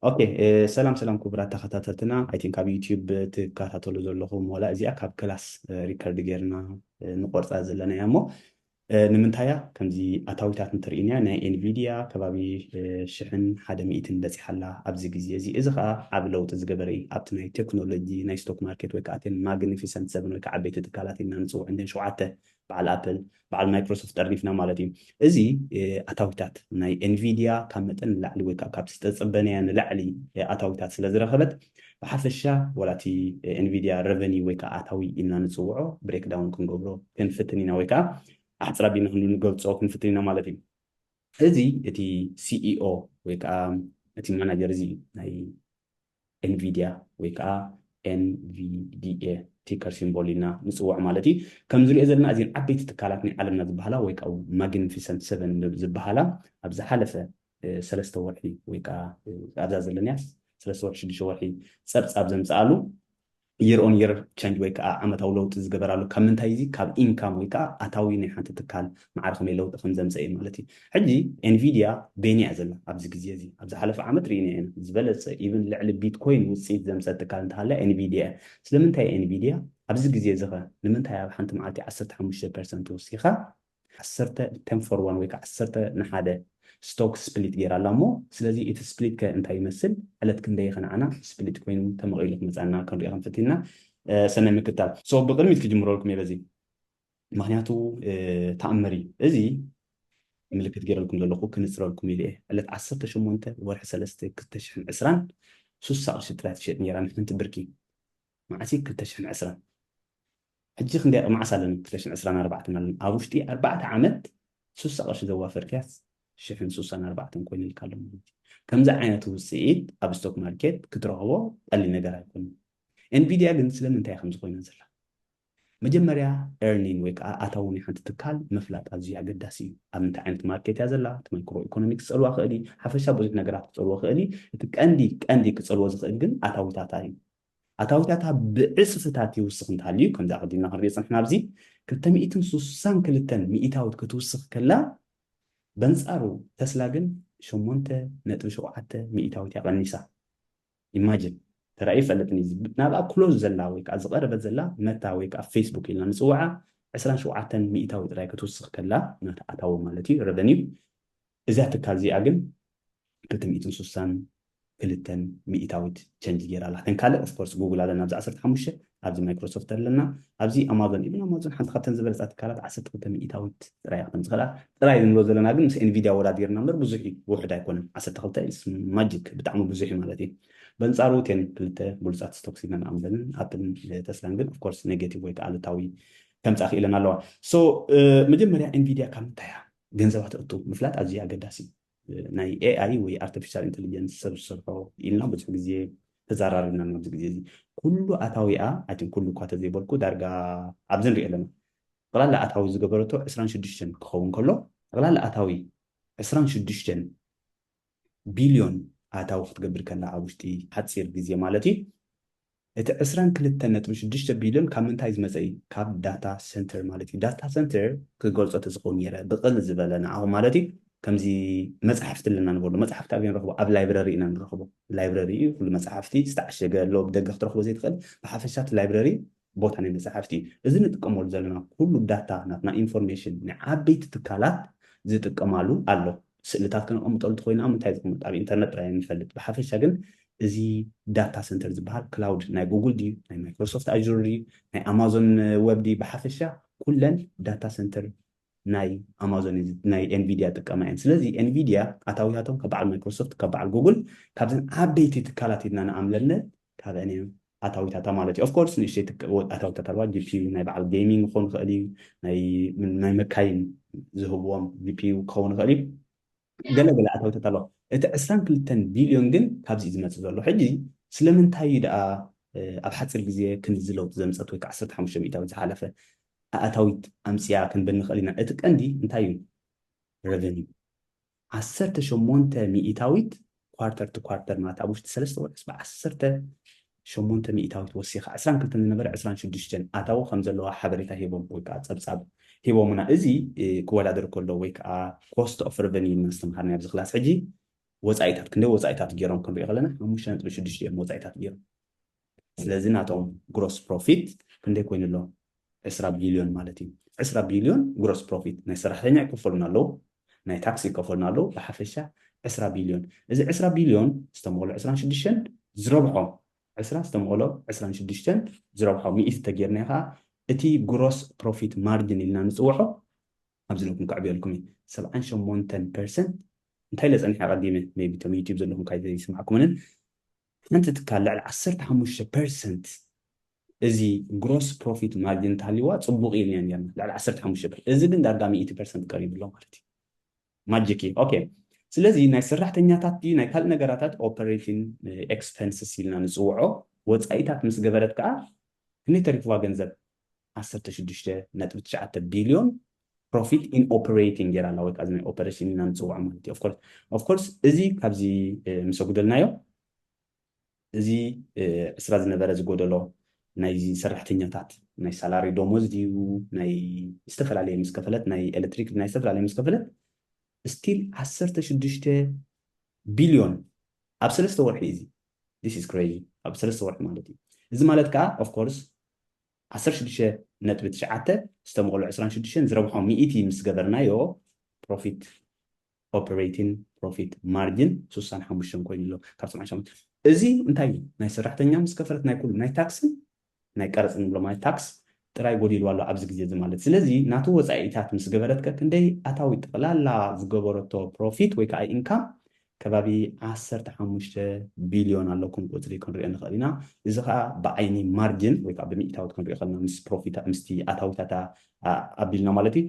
ኦኬ ሰላም ሰላም ክቡራት ተኸታተልትና ኣይ ቲንክ ኣብ ዩቲዩብ ትከታተሉ ዘለኹም ዋላ እዚኣ ካብ ክላስ ሪከርድ ጌርና ንቆርፃ ዘለና እያ እሞ ንምንታይ እያ ከምዚ ኣታዊታት እንትርኢን እያ ናይ ኤንቪድያ ከባቢ ሽሕን ሓደ ሚእትን በፂሓ ኣላ ኣብዚ ግዜ እዚ እዚ ከዓ ዓብ ለውጢ ዝገበረ እዩ ኣብቲ ናይ ቴክኖሎጂ ናይ ስቶክ ማርኬት ወይ ከዓ እተን ማግኒፊሰንት ሰብን ወይ ከዓ ዓበይቲ ትካላት ኢልና ንፅውዕ እንደን ሸውዓተ በዓል ኣፕል፣ በዓል ማይክሮሶፍት ጠርኒፍና ማለት እዩ። እዚ ኣታዊታት ናይ ኤንቪድያ ካብ መጠን ንላዕሊ ወይ ከዓ ካብቲ ዝተፀበነያ ንላዕሊ ኣታዊታት ስለ ዝረኸበት ብሓፈሻ ዋላ እቲ ኤንቪድያ ረቨኒ ወይ ከዓ ኣታዊ ኢልና ንፅውዖ ብሬክ ዳውን ክንገብሮ ክንፍትን ኢና ወይ ከዓ ኣሕፅር ኣቢልና ክንገልፆ ክንፍትን ኢና ማለት እዩ። እዚ እቲ ሲኢኦ ወይ ከዓ እቲ ማናጀር እዚ እዩ ናይ ኤንቪድያ ወይ ከኣ NVDA ቲከር ሲምቦል ኢልና ንጽውዖ ማለት እዩ። ከምዚ ንሪኦ ዘለና እዚን ዓበይቲ ትካላት ናይ ዓለምና ዝበሃላ ወይ ከኣ ማግንፊሰንት ሰቨን ዝበሃላ ኣብ ዝሓለፈ ሰለስተ ወርሒ ወይ ከኣ ኣብዛ ዘለንያ ሰለስተ ወርሒ ሽዱሽተ ወርሒ ጸብጻብ ዘምጽኣሉ Year on Year Change ወይ ከኣ ዓመታዊ ለውጢ ዝገበራሉ ካብ ምንታይ እዚ ካብ ኢንካም ወይ ከኣ ኣታዊ ናይ ሓንቲ ትካል መዓር ከመይ ለውጢ ከም ዘምጸ እዩ ማለት እዩ ሕጂ ኤንቪድያ በየን እያ ዘላ ኣብዚ ግዜ እዚ ኣብ ዝሓለፈ ዓመት ርኢናዮ ኢና ዝበለጸ ኢቭን ልዕሊ ቢትኮይን ውጽኢት ዘምጸት ትካል እንተሃልያ ኤንቪድያ እያ ስለምንታይ ኤንቪድያ ኣብዚ ግዜ እዚ ከ ንምንታይ ኣብ ሓንቲ መዓልቲ ዓሰርተ ሓሙሽተ ፐርሰንት ወሲኻ ዓሰርተ ቴን ፎር ዋን ወይ ከኣ ዓሰርተ ንሓደ ስቶክ ስፕሊት ጌራ ኣላ እሞ ስለዚ እቲ ስፕሊት ከ እንታይ ይመስል ዕለት ክንደይ ከ ንዓና ስፕሊት ኮይኑ ተመቒሉ ክመጻና ክንሪኦ ከም ፈቲንና ሰናይ ምክታል so ብቕድሚት ክጅምረልኩም እየ በዚ ምክንያቱ ተኣምር እዩ እዚ ምልክት ጌረልኩም ዘለኹ ክንጽረልኩም ኢለ እየ ዕለት ዓሰርተ ሸሞንተ ወርሒ ሰለስተ ክልተ ሽሕን ዕስራን ሱሳ ቅርሺ ጥራይ ትሸጥ ኔራ ንሓንቲ ብርኪ መዓስ እዩ ክልተ ሽሕን ዕስራን ሕጂ ክንደይ ቅ መዓስ ኣለና ክልተ ሽሕን ዕስራን ኣርባዕተን ኣለና ኣብ ውሽጢ ኣርባዕተ ዓመት ሱሳ ቅርሺ ዘዋፈርክያስ ሽሕን ሱሳን ኣርባዕተን ኮይኑልካ ኣሎ ማለት እዩ ከምዚ ዓይነት ውጽኢት ኣብ ስቶክ ማርኬት ክትረኽቦ ቀሊል ነገር ኣይኮነን ኤንቪድያ ግን ስለምንታይ እያ ከምዚ ኮይና ዘላ መጀመርያ ኤርኒን ወይ ከዓ ኣታዊ ናይ ሓንቲ ትካል ምፍላጥ ኣዝዩ ኣገዳሲ እዩ ኣብ ምንታይ ዓይነት ማርኬት እያ ዘላ እቲ ማይክሮ ኢኮኖሚክስ ክፀልዋ ክእል ሓፈሻ ብዙሕ ነገራት ክፀልዎ ክእል እቲ ቀንዲ ቀንዲ ክፀልዎ ዝኽእል ግን ኣታዊታታ እዩ ኣታዊታታ ብዕጽፍታት ይውስኽ እንተሃልዩ፣ ከምዚ ኣቐዲምና ክንሪኦ ዝጸናሕና ኣብዚ ክልተ ሚእትን ስሳን ክልተን ሚኢታዊት ክትውስኽ ከላ፣ በንጻሩ ተስላ ግን ሸሞንተ ነጥቢ ሸውዓተ ሚኢታዊት እያ ቀኒሳ። ኢማጅን! ተራእዩ ኣይፈልጥን እዩ እዚ። ናብኣ ክሎዝ ዘላ ወይ ከኣ ዝቐረበት ዘላ መታ ወይ ከኣ ፌስቡክ ኢልና ንጽውዓ ዕስራን ሸውዓተን ሚኢታዊት ጥራይ ክትውስኽ ከላ ናታ ኣታዊ ማለት እዩ፣ ረቨኒው፣ እዛ ትካል እዚኣ ግን ርክብ ሚእትን ሱሳን ክልተን ሚኢታዊት ቸንጅ ጌራ ኣላ ተን ካልእ ኦፍኮርስ ጉጉል ኣለና ኣብዚ ዓሰርተ ሓሙሽተ ኣብዚ ማይክሮሶፍት ኣለና ኣብዚ ኣማዞን ኢቭን ኣማዞን ሓንቲ ካብተን ዝበለፃ ትካላት ዓሰርተ ክልተ ሚኢታዊት ጥራይ ካብተን ዝኸዳ ጥራይ ንብሎ ዘለና ግን ምስ ኤንቪድያ ወዳዲርና እምበር ብዙሕ እዩ ውሕድ ኣይኮነን ዓሰርተ ክልተ ማጂክ ብጣዕሚ ብዙሕ እዩ ማለት እዩ በንጻሩ ቴን ክልተ ብሉፃት ስቶክስ ኢና ንኣምዘንን ኣፕልን ተስላን ግን ኦፍኮርስ ኔጌቲቭ ወይ ከዓ ኣሉታዊ ከምፃ ክኢለን ኣለዋ ሶ መጀመርያ ኤንቪድያ ካብ ምንታይ እያ ገንዘባ ተእቱ ምፍላጥ ኣዝዩ ኣገዳሲ እዩ ናይ ኤኣይ ወይ ኣርተፊሻል ኢንተሊጀንስ ሰብ ዝሰርሖ ኢልና ብዙሕ ግዜ ተዘራሪብና ኣብዚ ግዜ እዚ ኩሉ ኣታዊኣ ኣይትን ኩሉ እኳ ተዘይበልኩ ዳርጋ ኣብዚ ንሪኦ ኣለና ጠቕላላ ኣታዊ ዝገበረቶ ዕስራን ሽዱሽተን ክኸውን ከሎ ጠቕላላ ኣታዊ ዕስራን ሽዱሽተን ቢልዮን ኣታዊ ክትገብር ከላ ኣብ ውሽጢ ሓፂር ግዜ ማለት እዩ እቲ ዕስራን ክልተን ነጥቢ ሽዱሽተ ቢልዮን ካብ ምንታይ ዝመጸ እዩ? ካብ ዳታ ሰንተር ማለት እዩ። ዳታ ሰንተር ክገልጾ ተዝኽእል ኔረ ብቕል ዝበለ ንዓኹም ማለት እዩ ከምዚ መጻሕፍቲ ኣለና ንበሎ መጻሕፍቲ ኣበይ ንረኽቦ ኣብ ላይብረሪ ኢና ንረኽቦ ላይብረሪ እዩ ኩሉ መጻሕፍቲ ዝተዓሸገ ኣሎ ብደገ ክትረኽቦ ዘይትኽእል ብሓፈሻ እቲ ላይብረሪ ቦታ ናይ መጻሕፍቲ እዩ። እዚ ንጥቀመሉ ዘለና ኩሉ ዳታ ናትና ኢንፎርሜሽን ናይ ዓበይቲ ትካላት ዝጥቀማሉ ኣሎ። ስእልታት ከነቐምጠሉ እንተኾይና ኣብ ምንታይ ዝቕመጥ ኣብ ኢንተርነት ጥራይ እየ ዝፈልጥ ብሓፈሻ ግን እዚ ዳታ ሰንተር ዝብሃል ክላውድ ናይ ጉግል ድዩ ናይ ማይክሮሶፍት ኣዡር ድዩ ናይ ኣማዞን ወብ ድዩ ብሓፈሻ ኩለን ዳታ ሰንተር ናይ ኣማዞን ናይ ኤንቪድያ ጥቀማ እየን ስለዚ ኤንቪድያ ኣታዊታቶም ካብ በዓል ማይክሮሶፍት ካብ በዓል ጉግል ካብዘን ዓበይቲ ትካላት ኢልና ንኣምለለን ካብአን እየን ኣታዊታታ ማለት እዩ። ኦፍ ኮርስ ንእሽተይ ኣታዊታት ኣለዋ ጂፒዩ ናይ በዓል ጌሚንግ ክኸውን ይኽእል እዩ ናይ መካይን ዝህብዎም ጂፒዩ ክኸውን ይኽእል እዩ ገለ ገለ ኣታዊታት ኣለዋ እቲ ዕስራን ክልተን ቢልዮን ግን ካብዚ እዩ ዝመጽእ ዘሎ ሕጂ ስለምንታይ እዩ ደኣ ኣብ ሓጺር ግዜ ክንድዚ ለውጢ ዘምጸት ወይ ከዓ ዓሰርተ ሓሙሽተ ሚእታዊት ዝሓለፈ ኣእታዊት ኣምጽያ ክንብል ንኽእል ኢና እቲ ቀንዲ እንታይ እዩ ረቨኒ ዓሰርተ ሸሞንተ ሚኢታዊት ኳርተር ቱ ኳርተር ማለት ኣብ ውሽጢ ሰለስተ ወርሕስ ብ ዓሰርተ ሸሞንተ ሚኢታዊት ወሲኻ ዕስራን ክልተን ዝነበረ ዕስራን ሽዱሽተን ኣታዊ ከም ዘለዋ ሓበሬታ ሂቦም ወይ ከኣ ጸብጻብ ሂቦሙና። እዚ ክወዳደር ከሎ ወይ ከኣ ኮስት ኦፍ ረቨንዩ ኢልና ዝተምሃርናዮ ኣብዚ ክላስ ሕጂ ወጻኢታት ክንደይ ወጻኢታት ጌሮም ክንሪኦ ከለና ሓሙሽተ ነጥቢ ሽዱሽተ እዮም ወጻኢታት ጌሮም። ስለዚ ናቶም ግሮስ ፕሮፊት ክንደይ ኮይኑ ኣሎ ዕስራ ቢልዮን ማለት እዩ ዕስራ ቢልዮን ግሮስ ፕሮፊት ናይ ሰራሕተኛ ይከፈሉና ኣለዉ ናይ ታክሲ ይከፈሉና ኣለዉ ብሓፈሻ ዕስራ ቢልዮን እዚ ዕስራ ቢልዮን ዝተመቕሎ ዕስራን ሽዱሽተን ዝረብሖ ዕስራ ዝተመቕሎ ዕስራን ሽዱሽተን ዝረብሖ ሚእቲ ተጌርና ከዓ እቲ ግሮስ ፕሮፊት ማርጅን ኢልና ንፅውዖ ኣብዚ ለኩም ከዕብየልኩም እዩ ሰብዓን ሸሞንተን ፐርሰንት እንታይ ኢለ ፀኒሐ ኣቐዲመ ሜቢ እቶም ዩቲብ ዘለኹም ካይዘይስማዕኩምንን ሓንቲ ትካል ልዕሊ ዓሰርተ ሓሙሽተ ፐርሰንት እዚ ግሮስ ፕሮፊት ማርጅን እንተሃልይዋ ጽቡቕ እዩ ኢልና ኔርና ልዕሊ ዓሰርተ ሓሙሽተ ፐርሰንት እዚ ግን ዳርጋ ሚእቲ ፐርሰንት ቀሪቡ ኣሎ ማለት እዩ ማጂክ እዩ ኦኬ ስለዚ ናይ ሰራሕተኛታት ድዩ ናይ ካልእ ነገራታት ኦፐሬቲን ኤክስፐንስስ ኢልና ንጽውዖ ወጻኢታት ምስ ገበረት ከኣ ክንደይ ተሪፍዋ ገንዘብ ዓሰርተ ሽዱሽተ ነጥቢ ትሽዓተ ቢልዮን ፕሮፊት ኢን ኦፕሬቲንግ ጌራ ኣላ ወይከዓ እዚ ኦፐሬሽን ኢና ንፅውዖ ማለት እዩ ኦፍኮርስ እዚ ካብዚ ምስ ኣጉደልናዮ እዚ ዕስራ ዝነበረ ዝጎደሎ ናይ ሰራሕተኛታት ናይ ሳላሪ ደሞዝ ድዩ ናይ ዝተፈላለየ ምስ ከፈለት ናይ ኤሌክትሪክ ናይ ዝተፈላለየ ምስ ከፈለት ስቲል ዓሰርተ ሽዱሽተ ቢልዮን ኣብ ሰለስተ ወርሒ እዚ ዲስ ኢዝ ክሬዚ ኣብ ሰለስተ ወርሒ ማለት እዩ እዚ ማለት ከዓ ኦፍኮርስ ዓሰርተ ሽዱሽተ ነጥቢ ትሽዓተ ዝተመቕሉ ዕስራን ሽዱሽተን ዝረብሖም ሚእቲ ምስ ገበርናዮ ፕሮፊት ኦፕሬቲን ፕሮፊት ማርጅን ሱሳን ሓሙሽተን ኮይኑ ኣሎ ካብ ሰብዓን ሸሞንተ እዚ እንታይ እዩ ናይ ሰራሕተኛ ምስ ከፈረት ናይ ኩሉ ናይ ታክስን ናይ ቀረፅ ንብሎ ማለት ታክስ ጥራይ ጎዲልዋ ኣሎ ኣብዚ ግዜ እዚ ማለት ስለዚ ናቱ ወፃኢታት ምስ ገበረት ከ ክንደይ ኣታዊ ጠቕላላ ዝገበረቶ ፕሮፊት ወይ ከዓ ኢንካም ከባቢ ዓሰርተ ሓሙሽተ ቢልዮን ኣለኩም ቁጽሪ ክንሪኦ ንኽእል ኢና። እዚ ከኣ ብዓይኒ ማርጅን ወይ ከኣ ብሚእታዊት ክንሪኦ ከለና ምስ ፕሮፊታ ምስቲ ኣታዊታታ ኣቢልና ማለት እዩ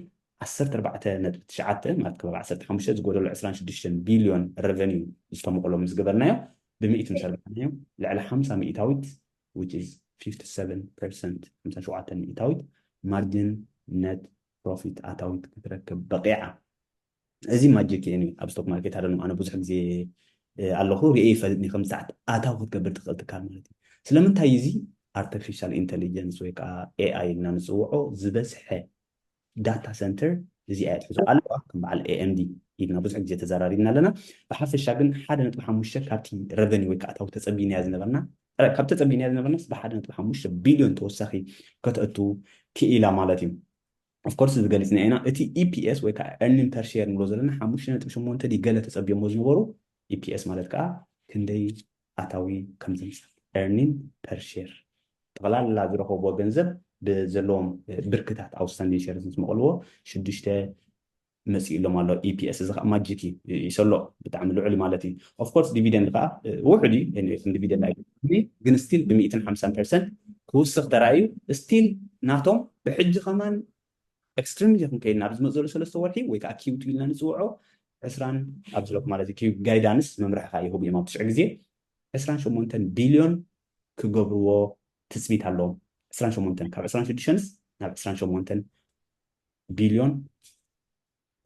ዓሰርተ ኣርባዕተ ነጥቢ ትሽዓተ ማለት ከባቢ ዓሰርተ ሓሙሽተ ዝጎደሎ ዕስራን ሽዱሽተን ቢልዮን ረቨንዩ ዝተሞቕሎ ምስ ገበርናዮ ብሚእቲ ምስ ኣርባዕናዮ ልዕሊ ሓምሳ ሚእታዊት which is fifty seven percent ሓምሳ ሸውዓተ ሚእታዊት ማርጅን ነት ፕሮፊት ኣታዊት ክትረክብ በቒዓ። እዚ ማጂክ እየ ኣብ ስቶክ ማርኬት ኣደኖ ኣነ ብዙሕ ግዜ ኣለኹ ርእየ ይፈልጥ ከም ሰዓት ኣታዊ ክትገብር ትኽእል ትካል ማለት እዩ ስለምንታይ እዚ ኣርቲፊሻል ኢንተሊጀንስ ወይ ከዓ ኤኣይ እና ንፅውዖ ዝበዝሐ ዳታ ሰንተር እዚ ኣያ ትሕዞ ኣለዋ ከም በዓል ኤኤምዲ ኢልና ብዙሕ ግዜ ተዘራሪብና ኣለና ብሓፈሻ ግን ሓደ ነጥቢ ሓሙሽተ ካብቲ ረቨኒ ወይ ከዓ ኣታዊ ተፀቢናያ ዝነበርና ካብ ተፀቢናያ ዝነበርናስ ብሓደ ነጥቢ ሓሙሽተ ቢልዮን ተወሳኺ ከተእቱ ክኢላ ማለት እዩ ኦፍ ኮርስ እዚ ገሊጽናዮ ኢና እቲ EPS ወይ ከኣ Earning Per Share ንብሎ ዘለና ሓሙሽተ ነጥቢ ሸሞንተ ድዩ ገለ ተጸብዮሞ ዝነበሩ EPS ማለት ከኣ ክንደይ ኣታዊ ከም ዘምጽእ Earning Per Share ጠቕላላ ዝረኸብዎ ገንዘብ ብዘለዎም ብርክታት Outstanding Shares ምስ መቐልዎ ሽዱሽተ መጺኡሎም ኣሎ EPS እዚ ከኣ ማጂክ እዩ ይሰሎ ብጣዕሚ ልዑል ማለት እዩ of course ዲቪደንድ ከኣ ውሑድ እዩ anyway ከም ዲቪደንድ ኣይኮነን ግን still ብ ሚእትን ሓምሳን percent ክውስኽ ተራእዩ still ናቶም ብሕጂ ከማን extremely ክንከይድና ኣብ ዝመጽእ ዘሎ ሰለስተ ወርሒ ወይ ከኣ Q2 ኢልና ንጽውዖ ዕስራን ኣብዚ ሎክ ማለት እዩ Q ጋይዳንስ መምርሒ ከኣ ይህቡ እዮም ኣብ ትሽዑ ግዜ ዕስራን ሸሞንተን ቢልዮን ክገብርዎ ትጽቢት ኣለዎም ዕስራን ሸሞንተን ካብ ዕስራን ሽዱሽተንስ ናብ ዕስራን ሸሞንተን ቢልዮን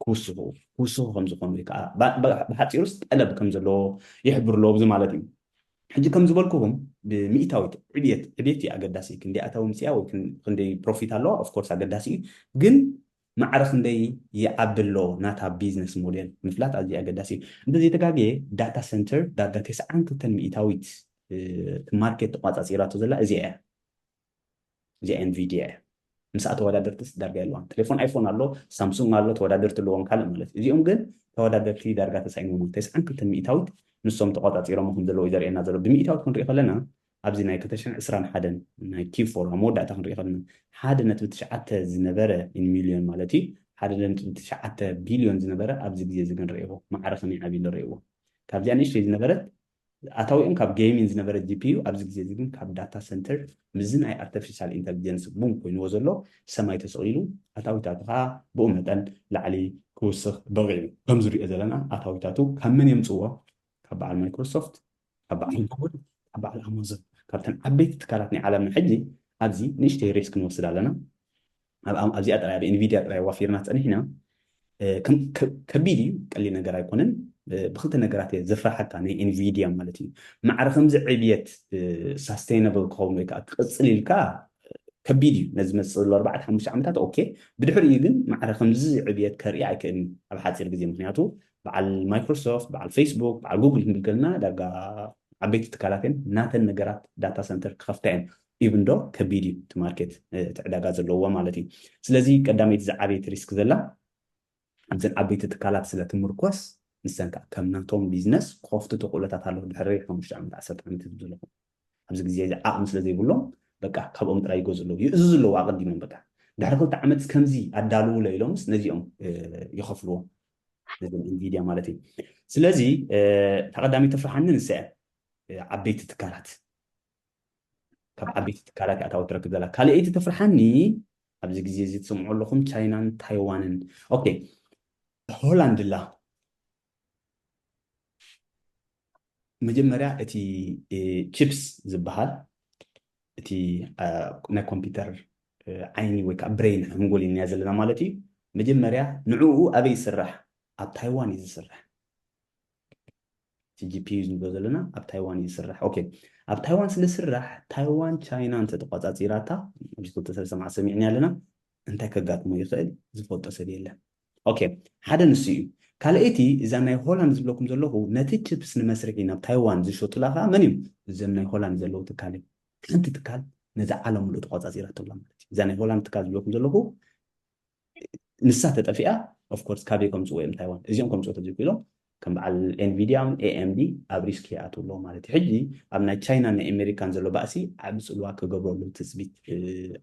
ክውስኹ ክውስኹ ከም ዝኾኑ ወይ ከዓ ብሓፂሩስ ጠለብ ከም ዘለዎ ይሕብሩ ኣለዎ ብዚ ማለት እዩ ሕጂ ከም ዝበልኩኹም ብምኢታዊት ዕብየት ዕብየት እዩ ኣገዳሲ ክንደይ ኣታዊ ምፅያ ወይ ክንደይ ፕሮፊት ኣለዋ ኦፍኮርስ ኣገዳሲ እዩ ግን ማዕረ ክንደይ ይዓቢ ኣሎ ናታ ቢዝነስ ሞዴል ምፍላጥ ኣዝዩ ኣገዳሲ እዩ እንተዘይተጋግየ ዳታ ሰንተር ዳርጋ ተስዓን ክልተን ሚኢታዊት ማርኬት ተቋፃፂራቶ ዘላ እዚኣ እያ እዚኣ ኤንቪድያ እያ ምስኣ ተወዳደርትስ ዳርጋ የለዋን ቴሌፎን ኣይፎን ኣሎ ሳምሱንግ ኣሎ ተወዳደርቲ ኣለዎም ካልእ ማለት እዩ እዚኦም ግን ተወዳደርቲ ዳርጋ ተሳኢኖሞ ተስዓን ክልተን ሚእታዊት ንሶም ተቆጻጺሮሞ ከም ዘለዉ እዩ ዘርእየና ዘሎ ብሚእታዊት ክንሪኢ ከለና ኣብዚ ናይ ክልተ ሽሕን ዕስራን ሓደን ናይ ኪብ ፎር ኣብ መወዳእታ ክንሪኢ ከለና ሓደ ነጥቢ ትሽዓተ ዝነበረ ኢን ሚልዮን ማለት እዩ ሓደ ነጥቢ ትሽዓተ ቢልዮን ዝነበረ ኣብዚ ግዜ እዚ ግን ርእዎ ማዕረ ከመይ ዓብዩ ኣሎ ርእዎ ካብዚኣ ንእሽተይ ዝነበረት ኣታዊኦም ካብ ገይሚን ዝነበረ GPU ኣብዚ ግዜ እዚ ግን ካብ ዳታ ሰንተር ምስዚ ናይ ኣርተፊሻል ኢንተልጀንስ ቡም ኮይንዎ ዘሎ ሰማይ ተሰቒሉ ኣታዊታቱ ከኣ ብኡ መጠን ላዕሊ ክውስኽ በቒዑ። ከምዚ ንሪኦ ዘለና ኣታዊታቱ ካብ መን የምጽእዎ? ካብ በዓል ማይክሮሶፍት፣ ካብ በዓል ጉግል፣ ካብ በዓል ኣማዞን፣ ካብተን ዓበይቲ ትካላት ናይ ዓለምና ሕጂ ኣብዚ ንእሽተይ ሪስክ ንወስድ ኣለና። ኣብዚኣ ጥራይ ኣብ ኤንቪድያ ጥራይ ዋፊርና ጸኒሕና ከቢድ እዩ ቀሊል ነገር ኣይኮነን ብክልተ ነገራት እየ ዘፍራሓካ ናይ ኤንቪድያ ማለት እዩ ማዕረ ከምዚ ዕብየት ሳስተይናብል ክኸውን ወይ ከዓ ክቕፅል ኢልካ ከቢድ እዩ ነዚ መፅእ ዘሎ ኣርባዕተ ሓሙሽተ ዓመታት ኦኬ ብድሕሪኡ ግን ማዕረ ከምዚ ዕብየት ከርኢ ኣይክእልን ኣብ ሓፂር ግዜ ምክንያቱ በዓል ማይክሮሶፍት በዓል ፌስቡክ በዓል ጉግል ክንብል ከለና ዳጋ ዓበይቲ ትካላት እየን ናተን ነገራት ዳታ ሰንተር ክኸፍታ እየን ኢቭን ዶ ከቢድ እዩ እቲ ማርኬት እቲ ዕዳጋ ዘለዎ ማለት እዩ ስለዚ ቀዳመይቲ ዝዓበይቲ ሪስክ ዘላ ኣብዘን ዓበይቲ ትካላት ስለ ትምርኮስ ንሰን ከዓ ከም ናቶም ቢዝነስ ክኸፍቱ ተኽእሎታት ኣለዉ ድሕሪ ሓሙሽተ ዓመት ዓሰርተ ዓመት ዝብል ዘለኹም ኣብዚ ግዜ እዚ ዓቕሚ ስለ ዘይብሎም በቃ ካብኦም ጥራይ ይገዝኡ ኣለዉ ይእዝዙ ኣለዉ ኣቐዲሞም በቃ ድሕሪ ክልተ ዓመት ከምዚ ኣዳልውለ ኢሎምስ ነዚኦም ይኸፍልዎ ነዞም ኢንቪድያ ማለት እዩ ስለዚ ተቐዳሚ ተፍርሓኒ ንሰ ዓበይቲ ትካላት ካብ ዓበይቲ ትካላት እያ ኣታዊ ትረክብ ዘላ ካልኣይቲ ተፍርሓኒ ኣብዚ ግዜ እዚ ትሰምዑ ኣለኹም ቻይናን ታይዋንን ኦኬ ሆላንድ ላ መጀመርያ እቲ ቺፕስ ዝበሃል እቲ ናይ ኮምፒውተር ዓይኒ ወይ ከዓ ብሬን ሓንጎል ኢና ዘለና ማለት እዩ መጀመርያ ንዕኡ ኣበይ ይስራሕ ኣብ ታይዋን እዩ ዝስራሕ ቲጂፒ እዩ ንብሎ ዘለና ኣብ ታይዋን እዩ ዝስራሕ ኦኬ ኣብ ታይዋን ስለ ዝስራሕ ታይዋን ቻይና እንተ ተቋጻጺራታ ኣብዚ ክልተ ሰለስተ መዓልቲ ሰሚዕናያ ኣለና እንታይ ከጋጥሞ ይኽእል ዝፈልጦ ሰብ የለን ኦኬ ሓደ ንሱ እዩ ካልኣይቲ እዛ ናይ ሆላንድ ዝብለኩም ዘለኹ ነቲ ችፕስ ንመስርሒ ናብ ታይዋን ዝሸጡላ ከዓ መን እዮም እዘም ናይ ሆላንድ ዘለዉ ትካል እዩ ሓንቲ ትካል ነዚ ዓለም ምሉእ ተቋጻጺራቶ ኣላ ማለት እዩ እዛ ናይ ሆላንድ ትካል ዝብለኩም ዘለኹ ንሳ ተጠፊኣ of course ካበይ ከምጽዎ እዮም ታይዋን እዚኦም ከምጽዎ ተዘይክኢሎም ከም በዓል Nvidia ን AMD ኣብ ሪስክ ይኣትው ኣለዎ ማለት እዩ ሕጂ ኣብ ናይ ቻይናን ናይ ኤመሪካን ዘሎ ባእሲ ዓቢ ጽልዋ ክገብረሉ ትጽቢት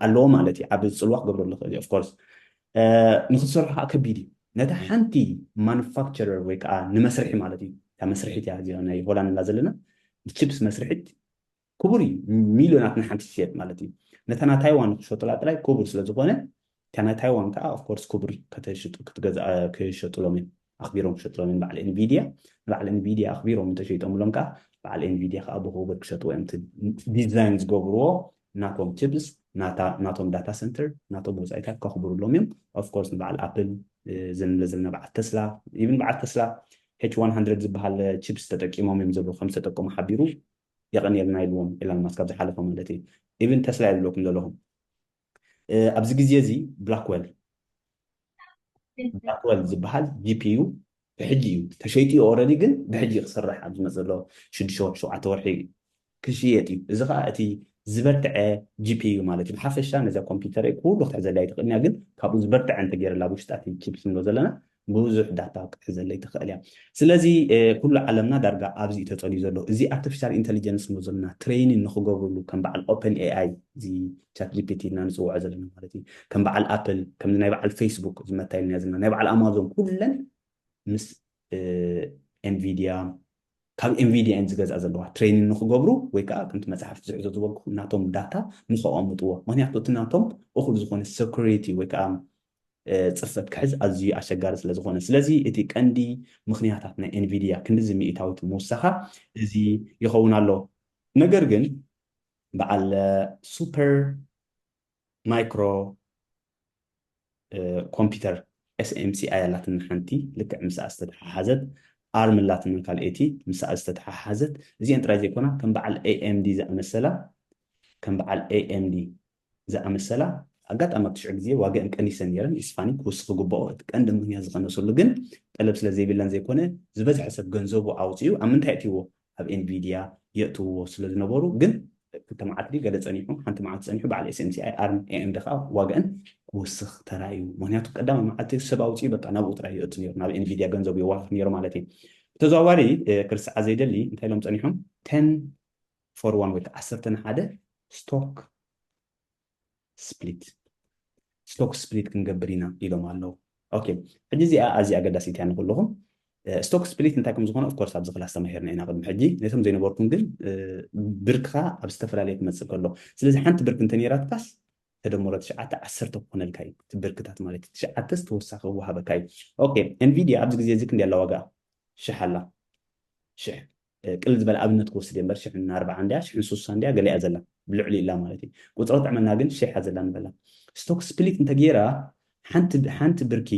ኣለዎ ማለት እዩ ዓቢ ጽልዋ ክገብረሉ ይኽእል እዩ of course ንክትሰርሖ ከዓ ከቢድ እዩ ነታ ሓንቲ ማኑፋክቸረር ወይ ከዓ ንመስርሒ ማለት እዩ እታ መስርሒት እያ እዚኣ ናይ ሆላንድ እና ዘለና ንቺፕስ መስርሒት ክቡር እዩ ሚልዮናት ንሓንቲ ትሸጥ ማለት እዩ ነታ ናይ ታይዋን ክሸጡላ ጥራይ ክቡር ስለ ዝኾነ እታ ናይ ታይዋን ከዓ ኦፍኮርስ ክቡር ክሸጡሎም እዮም ኣኽቢሮም ክሸጡሎም እዮም በዓል ኤንቪድያ ንበዓል ኤንቪድያ ኣኽቢሮም እንተሸይጦምሎም ከዓ በዓል ኤንቪድያ ከዓ ብክቡር ክሸጥዎ እዮም ዲዛይን ዝገብርዎ ናቶም ችፕስ ናቶም ዳታ ሰንተር ናቶም ወፃኢታት ከኽብሩሎም እዮም ኦፍኮርስ ንበዓል ኣፕል ዝንብለ ዘለና በዓል ተስላ ኢብን በዓል ተስላ ኤች 100 ዝበሃል ቺፕስ ተጠቂሞም እዮም ዘለዉ ከም ዝተጠቀሙ ሓቢሩ የቀንየልና ኢልዎም ኤላንማስ ካብ ዝሓለፈ ማለት እየ ኢቭን ተስላ እየ ዝብለኩም ዘለኹም ኣብዚ ግዜ እዚ ብላክወል ብላክወል ዝበሃል ጂፒዩ ብሕጂ እዩ ተሸይጡ እዩ ኦረዲ ግን ብሕጂ ክስራሕ ኣብ ዝመፅ ዘሎ ሽዱሽተ ወርሒ ሸውዓተ ወርሒ ክሽየጥ እዩ እዚ ከዓ እቲ ዝበርትዐ ጂፒዩ ማለት እዩ ብሓፈሻ ነዛ ኮምፒውተር ኩሉ ክትሕዘላ ይትኽእል እያ ግን ካብኡ ዝበርትዐ እንተገይረላ ኣብ ውሽጣ እቲ ቺፕስ ንብሎ ዘለና ብዙሕ ዳታ ክትሕዘለይ ትኽእል እያ። ስለዚ ኩሉ ዓለምና ዳርጋ ኣብዚ እዩ ተጸልዩ ዘሎ። እዚ ኣርተፊሻል ኢንተሊጀንስ እንብሎ ዘለና ትሬይኒን ንኽገብርሉ ከም በዓል ኦፐን ኤኣይ እዚ ቻት ጂፒቲ ኢልና ንጽውዖ ዘለና ማለት እዩ ከም በዓል ኣፕል ከምዚ ናይ በዓል ፌስቡክ እዚ መታ ኢልናዮ ዘለና ናይ በዓል ኣማዞን ኩለን ምስ ኤንቪድያ ካብ ኤንቪድያ እየን ዝገዝኣ ዘለዋ ትሬይኒን ንኽገብሩ ወይ ከዓ ከምቲ መፅሓፍ ዝሕዞ ዝበልኩ ናቶም ዳታ ንኸቐምጥዎ ምክንያቱ እቲ ናቶም እኹል ዝኾነ ሰኩሪቲ ወይ ከዓ ጽፈት ክሕዝ ኣዝዩ ኣሸጋሪ ስለ ዝኾነ። ስለዚ እቲ ቀንዲ ምኽንያታት ናይ ኤንቪድያ ክንድዚ ሚኢታዊት ምውሳኻ እዚ ይኸውን ኣሎ። ነገር ግን በዓል ሱፐር ማይክሮ ኮምፒተር SMCI ኣላትና ሓንቲ ልክዕ ምስኣ ዝተተሓሓዘት፣ ኣርም ኣላትና ካልኤቲ ምስኣ ዝተተሓሓዘት፣ እዚኤን ጥራይ ዘይኮና ከም በዓል AMD ዝኣመሰላ ከም በዓል AMD ዝኣመሰላ ኣጋጣሚ ኣብቲ ሽዑ ግዜ ዋግኣን ቀኒሰን ነይረን፣ ይስፋኒ ክውስኽ ዝግብኦ እቲ ቀንዲ ምኽንያት ዝቐነሰሉ ግን ጠለብ ስለ ዘይብለን ዘይኮነ ዝበዝሐ ሰብ ገንዘቡ ኣውጺኡ ኣብ ምንታይ የእትይዎ ኣብ Nvidia የእትውዎ ስለ ዝነበሩ ግን ክልተ መዓልቲ ድዩ ገለ ጸኒሑ ሓንቲ መዓልቲ ጸኒሑ በዓል SMCI ኣርም AMD ከኣ ዋግኣን ክውስኽ ተራእዩ ምኽንያቱ ቀዳማይ መዓልቲ ሰብ ኣውጺኡ በቃ ናብኡ ጥራይ የእቱ ነይሩ ናብ Nvidia ገንዘቡ የዋፍር ነይሩ ማለት እዩ ብተዘዋዋሪ ክርስዓ ዘይደሊ እንታይ ኢሎም ጸኒሖም 10 ፎር ዋን ወይ ከዓ ዓሰርተ ንሓደ ስቶክ ስፕሊት ስቶክ ስፕሊት ክንገብር ኢና ኢሎም ኣለዉ ኦኬ ሕጂ እዚኣ ኣዝያ ኣገዳሲት እያ ንኩልኹም ስቶክ ስፕሊት እንታይ ከም ዝኾነ ኦፍኮርስ ኣብዚ ክላስ ተማሂርና ኢና ቅድሚ ሕጂ ነቶም ዘይነበርኩም ግን ብርክኻ ኣብ ዝተፈላለየ ክመፅእ ከሎ ስለዚ ሓንቲ ብርክ እንተ ነይራትካስ ተደምሮ ትሽዓተ ዓሰርተ ክኾነልካ እዩ እቲ ብርክታት ማለት እዩ ትሽዓተስ ተወሳኺ ክወሃበካ እዩ ኦኬ ኤንቪድያ ኣብዚ ግዜ እዚ ክንደይ ኣላ ዋጋ ሽሕ ኣላ ሽሕ ቅልል ዝበለ ኣብነት ክወስድ እየ እምበር ሽሕን ኣርብዓን ድያ ሽሕን ሱሳን ድያ ገለ እያ ዘላ ብልዕሊኡ እላ ማለት እዩ ቁፅሪ ጥዕመና ግን ሽሕ እያ ዘላ ንበላ ስቶክ ስፕሊት እንተገይራ ሓንቲ ሓንቲ ብርኪ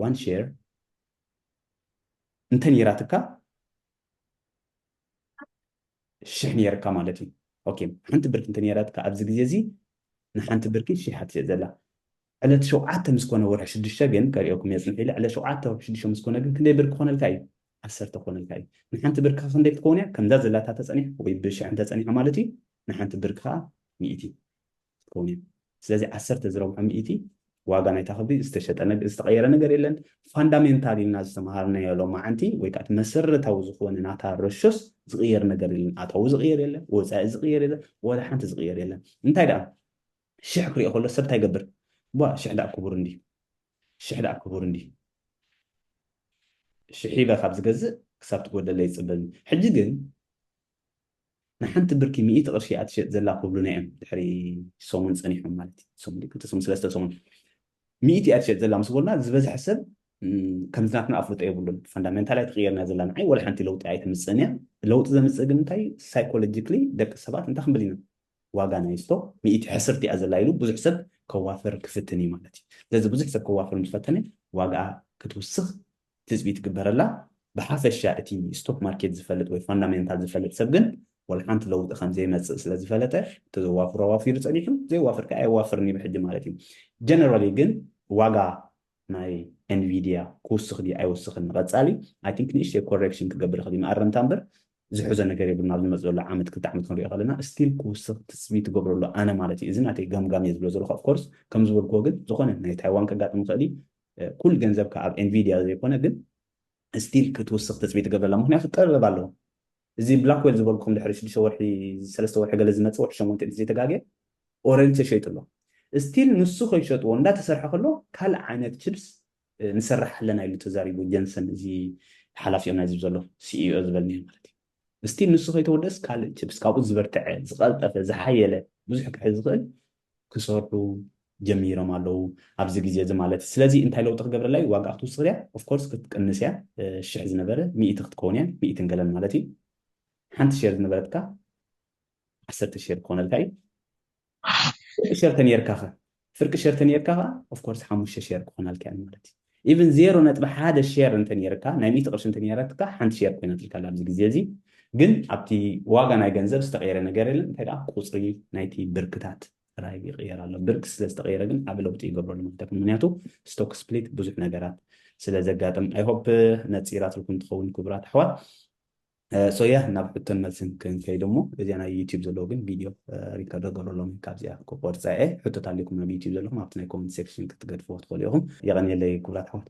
ዋን ሼር እንተነይራትካ ሽሕ ነይርካ ማለት እዩ ኦኬ ሓንቲ ብርኪ እንተነይራትካ ኣብዚ ግዜ እዚ ንሓንቲ ብርኪ ሽሕ ትሸጥ ዘላ ዕለት ሸውዓተ ምስ ኮነ ወርሒ ሽዱሽተ ግን ከርእየኩም እየ ጽንሕ ኢለ ዕለት ሸውዓተ ወርሒ ሽዱሽተ ምስ ኮነ ግን ክንደይ ብር ክኾነልካ እዩ ዓሰርተ ክኾነልካ እዩ ንሓንቲ ብር ከ ክንደይ ክትከውን እያ ከምዛ ዘላታ ተጸኒሕ ወይ ብ ሽሕ እንተ ጸኒሖ ማለት እዩ ንሓንቲ ብር ከኣ ሚእቲ ክትከውን እያ ስለዚ ዓሰርተ ዝረብሖ ሚእቲ ዋጋ ናይታ ክብሪ ዝተሸጠ ነገ ዝተቐየረ ነገር የለን ፋንዳሜንታል ኢልና ዝተምሃርናዮ ሎማዓንቲ ወይ ከኣ እቲ መሰረታዊ ዝኾነ ናታ ረሾስ ዝቕየር ነገር የለን ኣታዊ ዝቕየር የለን ወጻኢ ዝቕየር የለን ወላ ሓንቲ ዝቕየር የለን እንታይ ደኣ ሽሕ ክሪኦ ከሎ ሰብ ታይ ይገብር እባ ሽሕ ዳኣ ክቡር እንድዩ ሽሕ ዳኣ ክቡር እንድዩ ሽሕ ሂበ ካብ ዝገዝእ ክሳብ ትጎድለለይ ይፅበኒ ሕጂ ግን ንሓንቲ ብርኪ ሚእቲ ቅርሺ እያ ትሸጥ ዘላ ክብሉና እዮም ድሕሪ ሰሙን ፀኒሖም ማለት እዩ ሰሙን ድዩ ክልተ ሰሙን ሰለስተ ሰሙን ሚእቲ እያ ትሸጥ ዘላ ምስ በሉና ዝበዝሐ ሰብ እም፣ ከምዚ ናትና ኣፍልጦ የብሉን ፋንዳሜንታል ኣይተቐየርና ዘላ ንዓይ ወላ ሓንቲ ለውጢ ኣይተምፅእን እያ ለውጢ ዘምፅእ ግን እንታይ ሳይኮሎጂክሊ ደቂ ሰባት እንታይ ክንብል ኢና ዋጋ ናይ እስቶ ሚእቲ ሕስርቲ እያ ዘላ ኢሉ ብዙሕ ሰብ ከዋፍር ክፍትን እዩ ማለት እዩ። ስለዚ ብዙሕ ሰብ ከዋፍር ምስ ፈተነ ዋግኣ ክትውስኽ ትጽቢት ይግበረላ። ብሓፈሻ እቲ ስቶክ ማርኬት ዝፈልጥ ወይ ፋንዳሜንታል ዝፈልጥ ሰብ ግን ዋላ ሓንቲ ለውጢ ከም ዘይመጽእ ስለ ዝፈለጠ እቲ ዘዋፍሮ ኣዋፊሩ ጸኒሑ ዘየዋፍር ከኣ ኣየዋፍርን እዩ ብሕጂ ማለት እዩ። ጀነራሊ ግን ዋጋ ናይ ኤንቪድያ ክውስኽ ድዩ ኣይውስኽን ንቐጻሊ ኣይ ቲንክ ንእሽተይ ኮሬክሽን ክገብር ይኽእል እዩ መኣረምታ እምበር ዝሕዞ ነገር የብሉን ኣብ ዝመጽእ ዘሎ ዓመት ክልተ ዓመት ክንሪኦ ከለና እስቲል ክውስኽ ትጽቢት ይገብረሉ ኣነ ማለት እዩ እዚ ናተይ ገምጋም እየ ዝብሎ ዘለኹ ኣፍኮርስ ከም ዝበልክዎ ግን ዝኾነ ናይ ታይዋን ከጋጥም ይኽእል እዩ ኩል ገንዘብካ ኣብ ኤንቪድያ ዘይኮነ ግን እስቲል ክትውስኽ ትጽቢት ይገብረላ ምክንያቱ ጠበብ ኣለዎ እዚ ብላክዌል ዝበልኩም ድሕሪ ሽዱሽተ ወርሒ ሰለስተ ወርሒ ገለ ዝመጽእ ወርሒ ሸሞንተ እንተዘይተጋግየ ኦረንጅ ተሸይጡ ኣሎ እስቲል ንሱ ከይሸጥዎ እንዳተሰርሐ ከሎ ካልእ ዓይነት ችፕስ ንሰርሕ ኣለና ኢሉ ተዛሪቡ ጀንሰን እዚ ሓላፊኦም ናይዚ ዘሎ ሲኢኦ ዝበልንዮ ማለት እዩ እስቲል ንሱ ከይተወደስ ካልእ ችፕስ ካብኡ ዝበርትዐ ዝቐልጠፈ ዝሓየለ ብዙሕ ክሕዝ ዝኽእል ክሰርሑ ጀሚሮም ኣለዉ ኣብዚ ግዜ እዚ ማለት ስለዚ እንታይ ለውጢ ክገብረላ እዩ ዋጋኣ ክትውስኽ ድያ ኦፍኮርስ ክትቅንስ እያ ሽሕ ዝነበረ ሚእቲ ክትከውን እያ ሚእትን ገለን ማለት እዩ ሓንቲ ሼር ዝነበረትካ ዓሰርተ ሸር ክኾነልካ እዩ ፍርቂ ሸር ተነርካ ከ ፍርቂ ሸር ተነርካ ከ ኦፍ ኮርስ ሓሙሽተ ሸር ክኾናልካ እያ ማለት እዩ ኢቭን ዜሮ ነጥቢ ሓደ ሼር እንተነይርካ ናይ ሚእቲ ቅርሺ እንተነይራትካ ሓንቲ ሼር ኮይናትልካ ኣብዚ ግዜ እዚ ግን ኣብቲ ዋጋ ናይ ገንዘብ ዝተቐየረ ነገር የለን እንታይ ከዓ ቁፅሪ ናይቲ ብርክታት ጥራይ ይቕየር ኣሎ ብርክ ስለ ዝተቐየረ ግን ዓብ ለውጢ ይገብረሉ ማለት ይኹን ምክንያቱ ስቶክ ስፕሊት ብዙሕ ነገራት ስለ ዘጋጥም ኣይሆፕ ነፂራትልኩም ትኸውን ክቡራት ኣሕዋት ሶ ያ ናብ ሕቶን መልስን ክንከይድ እሞ እዚኣ ናይ ዩቲዩብ ዘለዎ ግን ቪድዮ ሪከርድ ኣገበሮ ሎሚ ካብዚኣ ክቆርፃ እየ ሕቶት ኣልኩም ናብ ዩቲዩብ ዘለኹም ኣብቲ ናይ ኮመንት ሴክሽን ክትገድፍዎ ትኽእሉ ኢኹም የቐንየለይ ክቡራት ኣሕዋት